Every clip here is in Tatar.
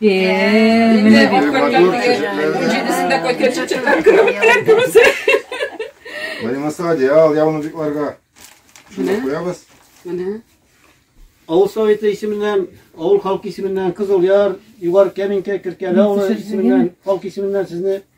Менә Булмаса одеял, яунуҗикларга. Шуны куябыз. Менә. Авыл советы исеменнән, авыл халкы исеменнән Кызыл Яр, Югар Кәминкә, Киркәле авылы исеменнән, халкы исеменнән сезне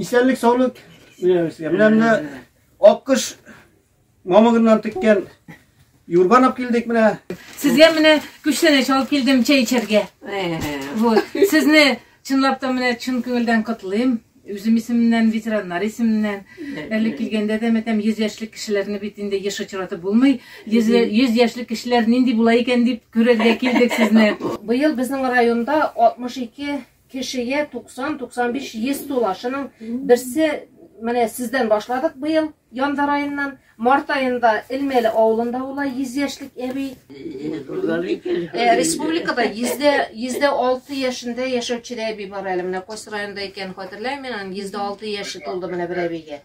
Исәнлек саулык үзегезгә. Менә менә аккыш мамыгыннан теккән юрган алып килдек менә. Сезгә менә күчтәнәч алып килдем чәй эчәргә. Вот. Сезне чынлап та менә чын күңелдән котлыйм. Үзем исеменнән, ветераннар исеменнән. Әле килгәндә дә мәтәм 100 яшьлек кешеләрне бит инде еш очратып булмый. 100 100 яшьлек кешеләр нинди була икән дип күрергә килдек сезне. Быел безнең районда 62 Кешегә 90-95 йөз тула. Шуның берсе менә сездән башладык быел январь районнан Март аенда Элмәле авылында була 100 яшьлек әби. Э, республикада 100 6 яшендә яшәүче әби бар әле. Менә Кос районында икән, хәтерләмим, 106 яше тулды менә бер әбигә.